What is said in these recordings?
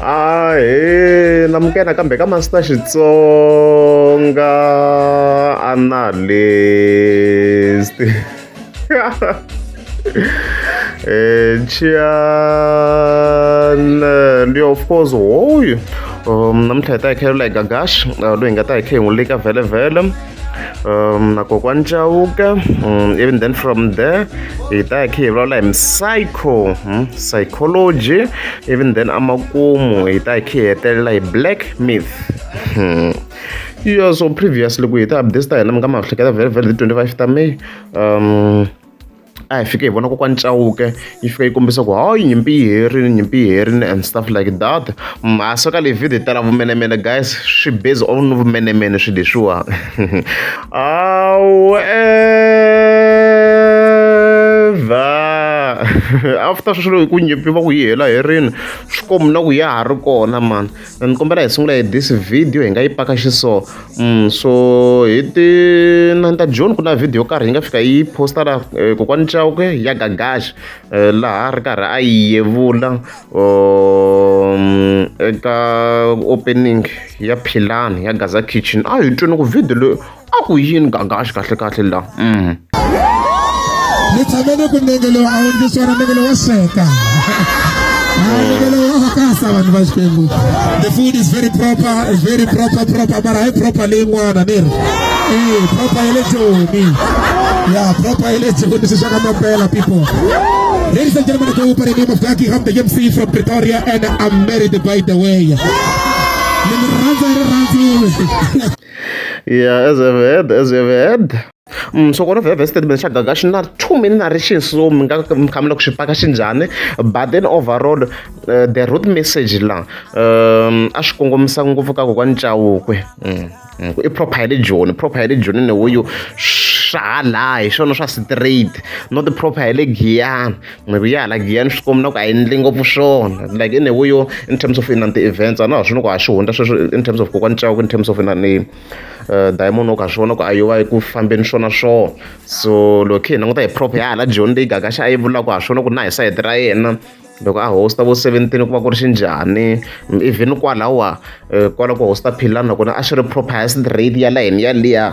ahe na mukena kambe ka masita xitsonga analyst eh, chian ndi of course hoyu um namuntlha hi ta hi khe lula hi gagash uh, loyi hi nga ta hi khe hi n'wi lika vhele vhele um, na kokwani chauka um, even then from there hi ta ya khe hi vulavula hi psycho hmm? psychology even then amakumu hi ta ya khe hi hetelela hi black myth hmm. yeah so previously ku hi ta update ta hina mi nga ma hleketa very very 25 ta may um a hi fike hi vona kokwani chauke yi fika yi kombisa ku hayi nyimpi yi herini nyimpi yi herini and stuff like that mhasa so ka leyi video yi tala vumenemene guys swi base on vumenemene swi leswiwa awe after sweswo loko ku nyimpi va ku yi hela herini swi komu na ku ya ha ri kona mani ni kombela hi sungula hi this video hi nga yi paka xiso mm, so hi ti nanta john ku na video yo karhi yi nga fika yi posta la eh, kokwani chawke ya gagaxi eh, laha ri karhi a yi yevula um, eka opening ya philani ya gaza kitchen a hi twini ku video leyi a ku yini gangaxi kahlekahle la mm. ni tshame ni ku nenge lowu a wu ndzi swona nenge lowo sweka kasa vanhu va xikwembu the food is very proper is very proper proper mara hayi proper leyin'wana ni ri ee eh, proper ya le joni ya proper ya le joni swi swaka mapela people Ladies and gentlemen, go by the name of Jackie Ham, the MC from Pretoria, and I'm married by the way. Yeah, as you have heard, as you have heard. Mm, so kona vhevhe statement xa gaga xi na too many narration so mi nga mi kha mi la ku swi paka xi njhani but then overall uh, the root message la um, a swi kongomisa ngopfu ka kokwani cawukwe mm, mm, i proper ya le joni proper ya le joni neweyo swa ha laha hi swona swa straight not proper ya le giyani maybe ya hala giya ni swi komi na ku a yi ndli ngopfu swona like in a way yo in terms of inani ti-events a na ha swi ni ku ha swi hundza sweswi in terms of kokwani cawuku in terms of inani uh, diamond oku ha swi vona ku a yo va yi ku fambeni swona swona so loko khe hi languta hi prop ya hala john leyi gagaxa a yi vulaka ha swi vona ku na hi sayiti ra yena loko a hosta vo seventeen ku va ku ri xinjhani even kwalawa eh, kwala ku hosta philani nakona a swi ri proper highest rate ya layeni yaliya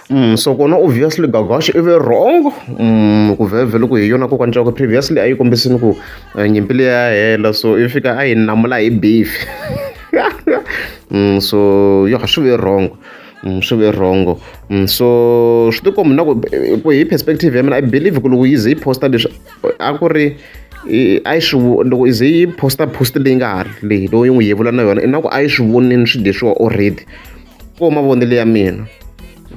So kona obviously Gavakali i ve wrong ku vhele ku hi yona kokwani Chauke previously a yi kombisile ku eh, nyimpi leyi ya hela so i fika a yi namula hi beef so yo ha swi ve wrong Mm, swi ve wrong mm, so swi tikombi na ku ku hi perspective ya mina i believe ku loko yi ze yi posta leswi a ku ri a yi swi loko yi ze yi posta post leyi nga ha ri leyi loko yi n'wi yevula na yona i na ku a yi swi vonini swi leswiwa already ko mavonelo ya mina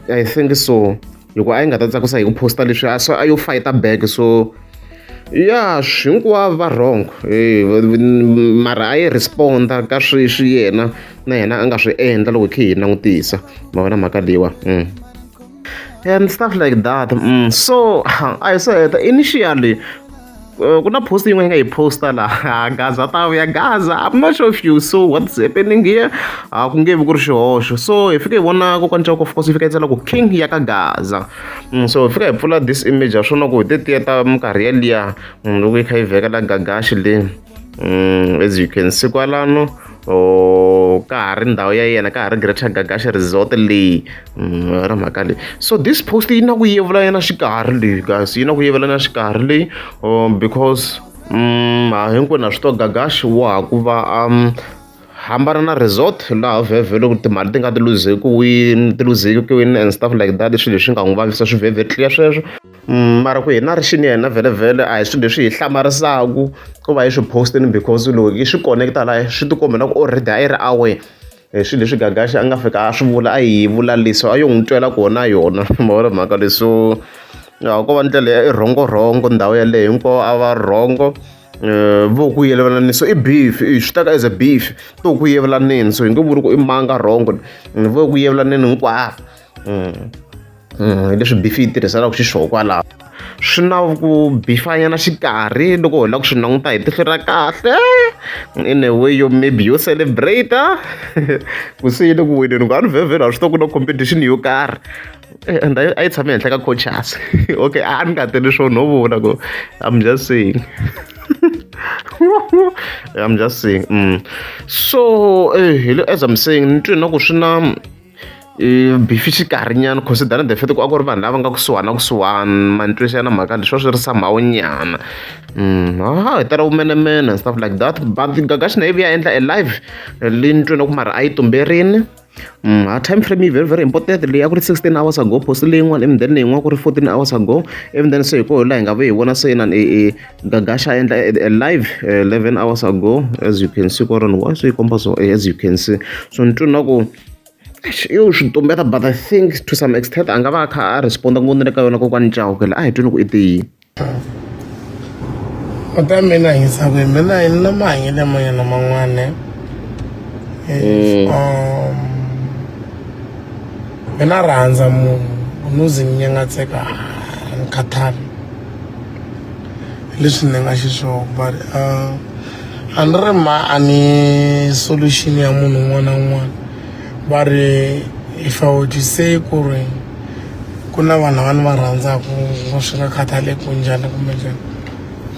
i think so hikuva a yi nga ta tsakisa hi ku posta leswi a a yo fighta back so ya hinkwavo va wrong eh, mara a yi responda ka swi swi yena na yena a nga swi endla loko hi khe hi langutisa ma vona mhaka leyiwa mm. and stuff like that mm. so a hi swo heta initially Uh, kuna post yin'we yi nga yi posta laha gaza ta vuya gaza i'm not sure if you so what's happening here a ku nge vi ku ri xihoxo so hi fike hi vona kokwani chako of course yi fika yi tsala ku king ya ka gaza mm, so hi fika hi pfula this image ya swona ku hi tetiya ta minkarhi yaliya mm, loko yi kha yi vhekela gagaxi leyi mm, as you can see kwalano or ka ha ri ndhawu ya yena ka ha ri greater gagasha resort leyi mm, ra mhaka leyi so this post yi na ku yevula yena xikarhi leyi guys yi na ku yevula yena xikarhi leyi oh, because mm, ha hinkwenu ha swi to gagashi wa ha ku va um hambana na resort laha vhevhele ku timali ti nga ti luzeki wini ti luzeki wini and stuff like that swilo leswi nga n'wi vavisa swi vhevhe tliya sweswo mara ku hi na ri xini yena vhele a hi swilo leswi hi hlamarisaku ku va yi swi post-ini because loko yi swi connect-a la swi ti kombela ku already a yi ri awe hi swilo leswi gagaxi a nga fika a swi vula a yi vula leswi a yo n'wi twela kona yona mavona mhaka leswo ko va ndlela ya i rhongo rhongo ndhawu yaleyo hinkwavo a va rhongo Eh, vo ku yelevelani so i beef eh, swi teka as a beef to ku yevelaneni so hi nge vuri ku i manga wrong vo ku yevelaneni hinkwavo hi leswi bifi yi tirhiselaka xiswona kwalaho swi na ku bifanyana xikarhi loko hi lava ku swi languta hi tihlo ra kahle in a way yo maybe yo celebrate ku se yile ku wineni ku a ni vhevhela a swi to ku na competition yo karhi eh, and a yi tshame henhla ka coaches okay a ni nga tele swo no vula ku i'm just saying i'm just saying mm. so eh, as i'm saying ni twi na ku swi na Beef xikarhinyana consider the fact ku a ku ri vanhu lava nga kusuhana kusuhana ma ni twisa na mhaka leswi a swi ri somehow nyana ha hi tala vumenemene and stuff like that but Gagash na ivi ya endla a live leyi ni twini ku mara a yi tumberini ha time frame yi very very important leyi a ku ri sixteen hours ago post leyin'wana ivi then leyin'wana ku ri fourteen hours ago ivi then se hi koho laha hi nga ve hi vona se inana e e. Gagasha endla a live uh, 11 hours ago as you can see koron why so ikomba so eh, as you can see so ni twina ku yo swi tumbeta but i think to some extent a nga va a kha a responda ku ni le ka yona kokwani cahukela a hi twini ku i tiyini kota mina hisa ku mina hi na mahanyele manyana man'wana mina rhandza munhu unuzi ni nyengatseka ni khathali hi leswi ni nga xiswona but uh, a ni ri ma a ni solution ya munhu un'wana na un'wana va ri if i would say ku ri ku na vanhu lava ni va rhandzaka va swi nga khathali ku njhani kumbe njhani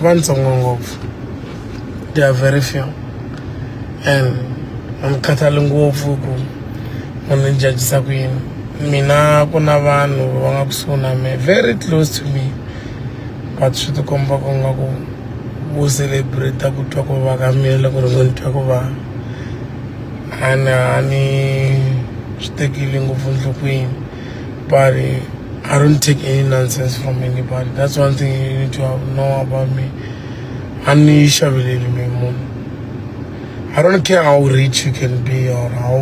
va ntsongo ngopfu they are very few and a ni khathali ngopfu ku munhu ni jajisa ku yini mina ku na vanhu va nga kusuhi na me very close to me but swi tikomba ku nga ku vo celebrate ku twa ku va ka mina loko ri ngo ni twa ku va a ni a ni swi tekile ngopfu nhlokweni but I don't take any nonsense from anybody that's one thing you need to know about me a ni xaveleli mi munhu I don't care how rich you can be or how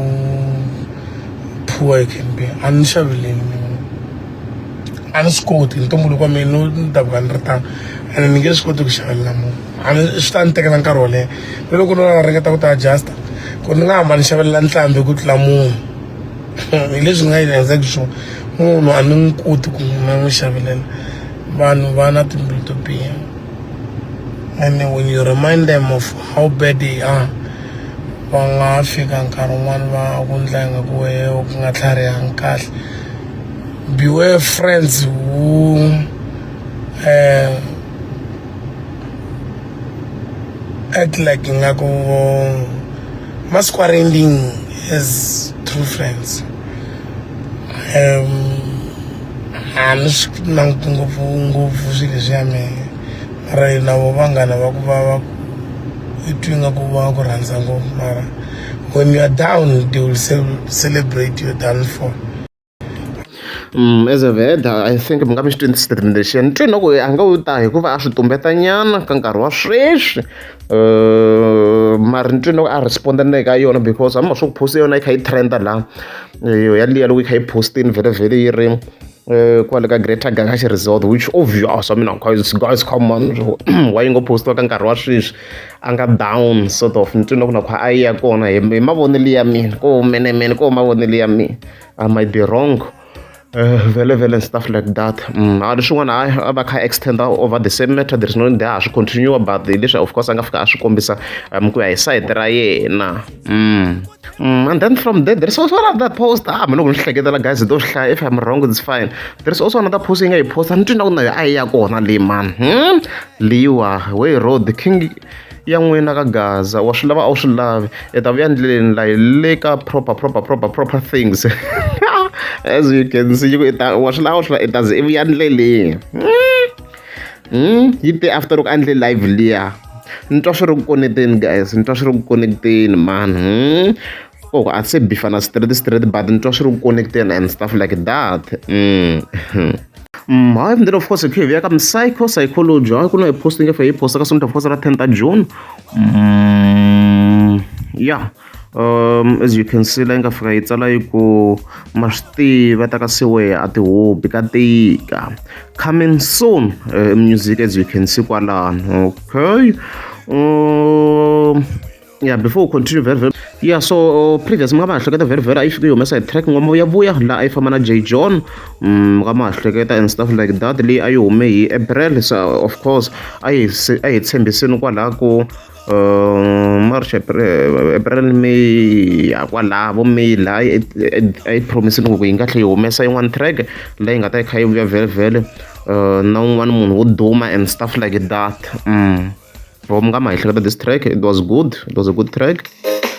poor you can be a ni xaveleli mi a ni swi koti ntumbuluko wa mina ni ta ku a ni ri tano ene ni nge swi koti ku xavelela munhu a ni swi ta ni tekela nkarhi wo leha ni loko ni va ringeta ku ti adjusta ku ni nga hamba ni xavelela ntlhambi ku tlula munhu hi leswi nga yi endleki swona munhu a ni n'wi koti ku na n'wi xavelela vanhu va na timbilu to biha and when you remind them of how bad they are va nga fika nkarhi wun'wani va ku ndla ingaku wehe u nga tlharihanga kahle beware friends who uh, act like ngaku must quarantine as true friends um I'm not sure ngopfu ngopfu swilo swa mehe mara yena vo vanghana va ku va va i twi nga ku va ku rhandza ngopfu mara when you are down they will celebrate your downfall Mm, as a veda i think mi nga mi xi twini statement lexiya ni twi na ku a nga u ta hikuva a swi tumbeta nyana ka nkarhi wa sweswi eh, mari ni twi na ku a responda na le ka yona because a mi ma swi ku post yona yi kha yi trenda laha eh, yaliya loko yi kha yi postini vhele vhele yi ri Eh, kwale ka greater gagashi resort which obvious i mean it's, it's common why yi ngo postiwa ka nkarhi wa sweswi a nga down sort of ni twile ku na kha a yi ya kona hi mavonelo ya mina ko menemene ko mavonelo ya mina i might be wrong eh, vele vele and stuff like that mm, a ri swin'wana hayi a va kha extenda over the same matter there is no need ha swi continue but leswi of course a nga fika a swi kombisa um, ku ya hi sayiti ra yena Mm, and then from there, there's also another post. Ah, mina loko ni hleketa la guys, do hlaya if I'm wrong, it's fine. There's also another post yi nga yi post. Ni twina ku na a ya kona le man. Hmm? Liwa, way road king ya n'wina ka gaza wa swi lava a wu swi lavi i ta vuya ndleleni la yi le ka proper proper proper proper things as you can see yi ku i ta wa swi lava a wu swi lava i ta ze i vuya ndleleni hmm? Hmm, yi te after loko a ndle live liya ni twa swi ri ku koneteni guys ni twa swi ri ku koneteni mani hmm? oh a se bifana straight straight but ni twa swi ri ku koneteni and stuff like that mm. Mm, hayi mndeni of course khivi ya ka psycho psychology hayi ku na hi posting efe hi posta ka sonto of course ra 10 ta june mm, ya yeah. as you can see la yi nga fika yi tsala yi ku ma swi tiva ta ka siwehe a tihobi ka tika coming soon uh, music as you can see kwalano okay um, yeah before we continue very very yeah so uh, previous mi nga ma hleketa very very a yi fike yi humesa hi track ngoma ya vuya laha a yi famba na j john mi mm, nga ma hleketa and stuff like that leyi a yi hume hi april so of course a yi a hi tshembisini kwalaha ku March April May ya kwalaho vo May laha yi a yi promise loko yi nga tlhela yi humesa yin'wana track leyi nga ta yi kha yi vuya vhelevhele na un'wana munhu wo duma and stuff like that loko mi nga ma ehleketa this track it was good it was a good track.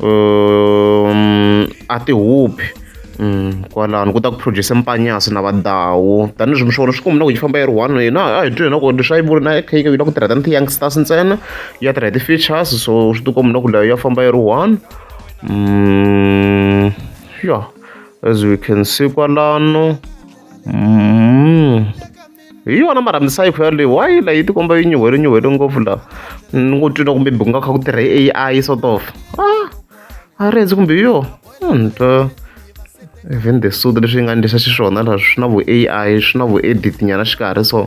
um a ti huphi um kwalano ku ta ku produce mpanyasi na vadawu tanihileswi mixono swi kumbi na ku yi famba yi ri one hina a hi twi hina ku leswi a yi vuri na kha yi na ku tirha tani ti-youngsters ntsena ya tirha hi ti-features so swi ti kumbi na ku leyo ya famba yi ri one um ya as we can see kwalano um hi yona mara misava kha yaleyo why la yi tikomba yi nyuhele nyuhele ngopfu la ni ngo twi na kumbe ku nga kha ku tirha hi A_I sort of ah a rezi kumbe yo ni twa even the suit leswi yi nga endlisa xiswona la swi na vu A_I swi na vu edit nyana xikarhi so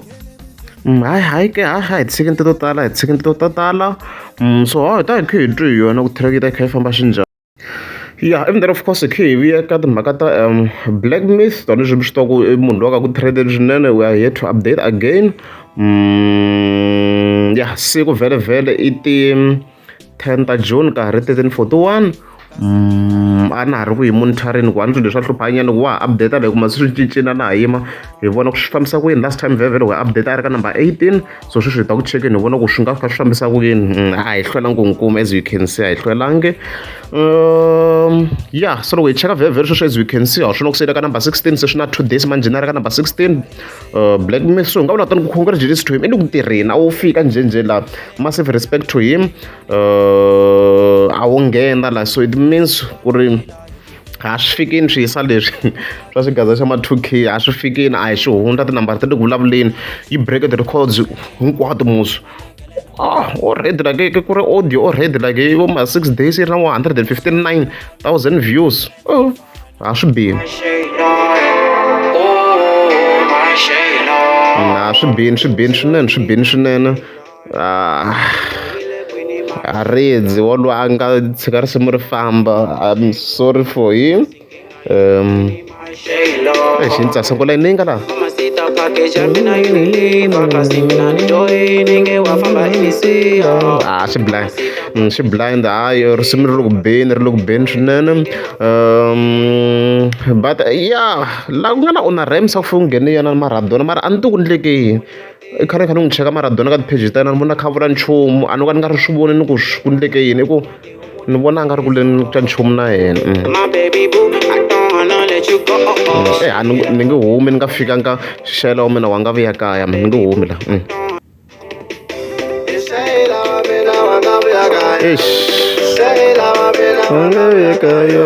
hayi hayi ke ha ha hi tshikini to tala hi tshikini to tala so hi ta hi kha hi twi hi yona ku track yi ta yi kha yi famba xinjhani. Ya and then of course hi kha hi vuya ka timhaka ta black myth tona leswi mi swi tivaku i munhu loyi a nga ku trend-eni swinene we are here to update again ya siku vhele-vhele i ti ten ta June ka ha ri thirteen forty one a na ha ri ku yi monitoring ku a ni swi leswi a hluphanyana ku wa ha update like masiku swi cincile na ha yima hi vona ku swi fambisa ku yini last time vhele-vhele we update a ri ka number eighteen so sweswi hi ta ku chekeni hi vona ku swi nga kha swi fambisa ku yini mm, a hi hlwelangi ku n'wi kuma as you can see a hi hlwelangi um ya so loko hi cheka vhevheri sweswi as you can see a swi na ku siyile ka number 16 se swi na two days manje na ri ka number 16 uh, black miss so hi nga vula tani ku congratulations to him i ni ku tirheni a wo fika njhenjhe la massive respect to him uh, a wo nghena la so it means ku ri a swi fikini swi yisa leswi swa xigaza xa ma 2 k a swi fikini a hi swi hundza tinambara ti le ku vulavuleni yi break the records hinkwato muso ah o ready like ke ku ri audio o ready like vo ma six days yi ri na 159000 views oh a swi bini na swi bini swi bini swinene swi bini swinene ah, haridzi wolo a nga tshika risimu ri famba i'm sorry for him um exi ni tsasa kula yini yi nga laha ah swi blind mm, swi blind hayi risimu ri le ku beni ri le ku beni swinene um but ya laha ku nga na una rams a ku fike ku nghene yena maradona mara a ni ti ku ndleke yini I khale ni kha ni n'wi cheka mara dona ka ti-page ta yena ni vona a kha a vula nchumu a no ka ni nga ri swi voni ni ku ku endleke yini i ku ni vona a nga ri ku leni ka nchumu na yena e a ni ni nge humi ni nga fikanga xela wa mina wa nga vuya kaya mi ni nge humi la eish wa nga vuya kaya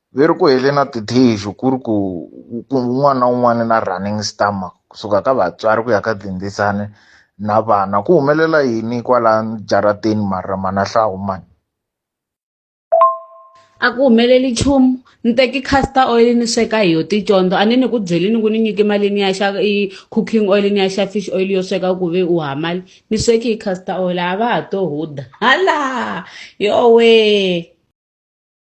ve ri ku heleni na tithixu ku ri ku un'wana na un'wana na running stomach kusuka ka vatswari ku ya ka tindzisane na vana ku humelela yini kwala jarateni mara manahlahu mani a ku humeleli nchumu ni teki caster oil ni sweka hi yo ticondzo a ni ni ku byelini ku ni nyike malini ya xa i cooking oil ni ya xa fish oil yo sweka ku ve u hamali ni sweki hi caster oil a va ha to huda hala yowee